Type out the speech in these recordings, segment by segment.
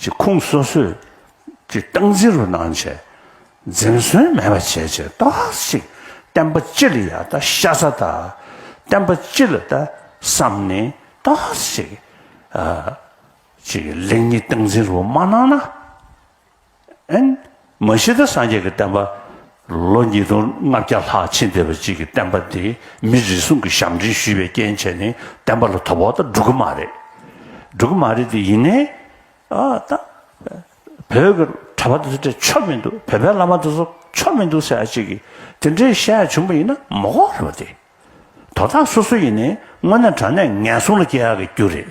ཀྱི་ཁུངས་སོ་སོས་ཀྱི་སྟངས་འཛིན་རུ་གནང་བྱས། འཛེམ་ཟོན་མེད་པ་བྱས་བྱས་རྟོགས་ཤིག་བསྟན་པ་སྤྱི་ལ་ཡང་ད་ཤ་ཚ་ད། བསྟན་པ་སྤྱི་ལ་ད་བསམ་ནས་རྟོགས་ཤིག། ཀྱི་ལེགས་ཉེས་སྟངས་འཛིན་རུ་མ་གནང་ན། ཨན། མ་གཞི་བདག་སངས་རྒྱས་ཀྱི་བསྟན་པ། ལོ་ཉིས་སྟོང་ལྔ་བརྒྱ་ལྷག་ཕྱིན་བསྡད་པ་གཅིག་གིས་བསྟན་པ་འདི་མི་རེ་ཟུང་གིས་ཞབས་འདྲེན་ཞུས་པའི་རྐྱེན་བྱས་ནས་བསྟན་པ་ལ་དོ་ཕོག་དང་འགྲོ་གི་མ་རེད། འགྲོ་གི་མ་རེད་དེ་ཡིན་ནའི། ཨ་ད། བོད་ཀྱི་གྲྭ་པ་དེ་ཚོ་དེ་ཆོ་མི་འདུག་བོད་པའི་བླ་མ་དེ་ཚོ་ཆོ་མི་འདུག་ཟེར་ཡ་གཅིག་གིས་དེ་འདྲའི་བཤད་ཡ་བྱུང་པ་ཡིན་ན་མ་གོ་རེད་པ་དེ། དོ་བདག་སོ་སོ་ཡིན་ནའི་དངོས་གནས་དྲང་གནས་ངན་སོང་ལ་སྐྱེ་ཡ་གི་རྒྱུ་རེད།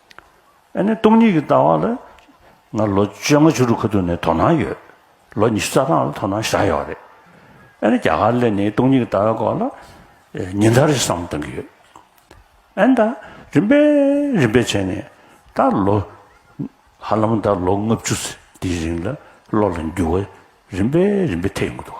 ཨ་ནེ་སྟོང་ཉིད་ཀྱི་ལྟ་བ་ལ། ང་ལོ་བཅོ་ལྔ་བཅུ་དྲུག་ཁ་ཐུག་ནས་དོ་སྣང་ཡོད། ལོ་ཉི་ཤུ་རྩ་གྲངས་ལ་དོ་སྣང་བཞག་ཡོད་རེད། ཨ་ནེ་རྒྱ་གར་ལས་ནི་སྟོང་ཉིད་ཀྱི་ལྟ་བའི་སྐོར་ལ། ཉིན་ལྟར་རེ་བསམ་གཏང་གི་ཡོད། ཨ་ནེ་ད་རིམ་པས་རིམ་པས་བྱས་ནས། ད་ལོ། ཧ་ལམ་ད་ལོ་ལྔ་བཅུ་ཚེ་འདིའི་རིང་ལ་བློ་ལ་འགྱུར་བ་རིམ་པས་རིམ་པས་ཐེབས་ཡོང་གི་འདུག།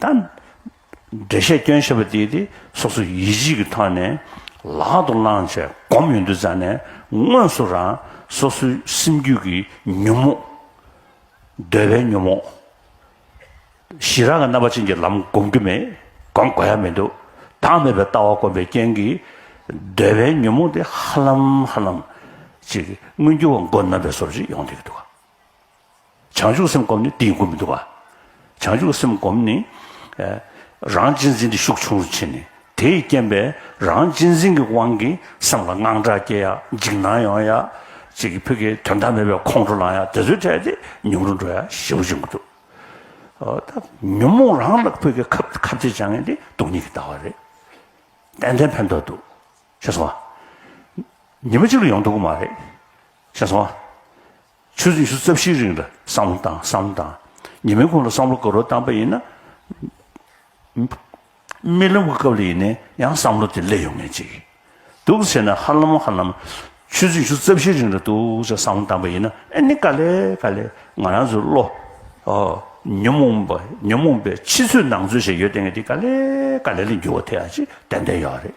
དང། འགྲེལ་བཤད་སྐྱོན་བཤད་པ་དེ་དེ་སོ་སོ་ཡིད་བྱེད་ཀྱི་ཐོག་ནས་ལག་ཏུ་བླངས་བྱས་སྒོམ་ཡོད་འདུག་རྩ་ནས་དངོས་སུ་རང་སོ་སོའི་སེམས་རྒྱུད་ཀྱི་ཉོན་མོངས། འདོད་པའི་ཉོན་མོངས། ཞི་རགས་ཀྱི་རྣམ་པ་ཅན་གྱི་ལམ་སྒོམ་རྒྱུ་མེད་སྒོམ་དགོས་ཡ་མི་འདུག་བདག་མེད་པའི་ལྟ་བ་སྒོམ་པའི་རྐྱེན་གྱིས་འདོད་པའི་ཉོན་མོངས་དེ་ཧ་ལམ་ཧ་ལམ་ཅིག་མངོན་གྱུར་བ་མགོ་རྣམ་པའི་སོར་བཞི་ཡོང་སྡད་ཀྱི་འདུག་ག། བྱང་ཆུབ་སེམས་བསྒོམས་ནས་དེ་ཡི་སྒོ་མི་བསྡུ་བ། བྱང་ཆུབ་སེམས་བསྒོམས་ནས། རང་གཅེས་འཛིན་དེ་ཤུགས་ཆུང་རུ་ཕྱིན་ནས། དེས་རྐྱེན་པས་རང་གཅེས་འཛིན་གྱི་དབང་གིས་སེམས་ལ་དངངས་སྐྲག་སྐྱེ་ཡ། འཇིགས་སྣང་ཡོང་ཡ། ཅིག་གིས་ཕུད་ཀྱི་དོན་དག་མེད་པའི་ཁོང་ཁྲོ་ལངས་ཡ་དེ་ཚོའི་གྲས་དེ་ཉུང་རུ་འགྲོ་ཡ་ཞེ་བོ་བྱུང་གི་འདུག་ཉོན་མོངས་རང་ལ་ཕུད་ཀྱི་ཁབ་ཁབ་ཅིག་བཅངས་ཡ་དེ་སྡུག་སྙིང་གི་ལྟ་བ་རེད། ཏན་ཏན་ཕན་ཐོགས་འདུག་ཤེས་སོང་བ། ཉི་མ་གཅིག་ལ་ཡོང་ཐུབ་ཀྱི་མ་རེད། ཤེས་སོང་བ། ཆུ་ཚོད་ཉི་ཤུ་རྩ་བཞིའི་རིང་ལ་བསམ་བློ་བཏང་བསམ་བློ་བཏང། ཉི་མའི་གོང་ལ་བསམ་བློ་དགའ་རོགས་བཏང་པ་ཡིན་ན། རྨི་ལམ་གྱི་སྐབས་ལ་ཡིན་ནའི་ཡང་བསམ་བློ་དེ་སླེབས་ཡོང་ངེས་ཅིག་འདུག་ཟེར་ན་ཧ་ལམ་ཧ་ལམ། ཆུ་ཚོད་ཉི་ཤུ་རྩ་བཞིའི་རིང་ལ་འདུག་ཅེས་བསམ་བློ་བཏང་པ་ཡིན་ན་ཨེ་ནི་དཀའ་ལས་དཀའ་ལས་ང་རང་ཚོའི་བློ། ཉོན་མོངས་པ་ཉོན་མོངས་པའི་ཕྱི་ཚོད་ནང་ཚོད་ཞེས་ཡོད་དེ་ངས་དེ་དཀའ་ལས་དཀའ་ལས་ལ་འགྱུར་བ་ཐེག་ཡ་ཅིག་ཏན་ཏན་ཡོད་རེད།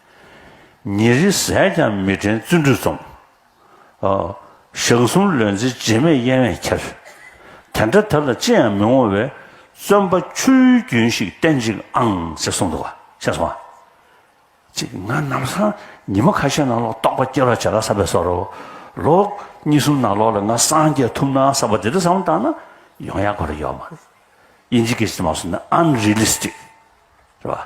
ཉིན་རེ་ཟས་ཀྱང་མི་དྲན་བརྩོན་འགྲུས་རྩོམ། ཞག་གསུམ་ལོན་ཚེ་རྗེས་མེད་གཡེང་བས་ཁྱེར། དེ་འདྲ་དེ་ལ་ཅི་ཡང་མི་ངོ་བའི། བརྩོན་པ་ཆུའི་རྒྱུན་ཞིག་བསྟེན་ཅིག་ཨང་ཅེས་གསུངས་འདུག་ཤེས་སོང་ཨ། ཅེས་ང་ནམ་སང་ཉི་མ་ཁ་ཤས་ནང་ལོག་རྟོགས་པ་སྐྱེ་རོགས་བྱས་ལ་ས་པའི་སོ་རོ་ལོ། གཉིས་གསུམ་ནང་ལོག་ལ་ང་སངས་རྒྱས་ཐུབ་ན་ས་པ་དེ་འདྲ་བསམ་བློ་བཏང་ན་ཡོང་ཡག་གོ་རེ་ཡོད་མ་རེད། དབྱིན་ཇི་སྐད་ཅིག་ཏུ་མ་གསུངས་ན Unrealistic། རེད་བ།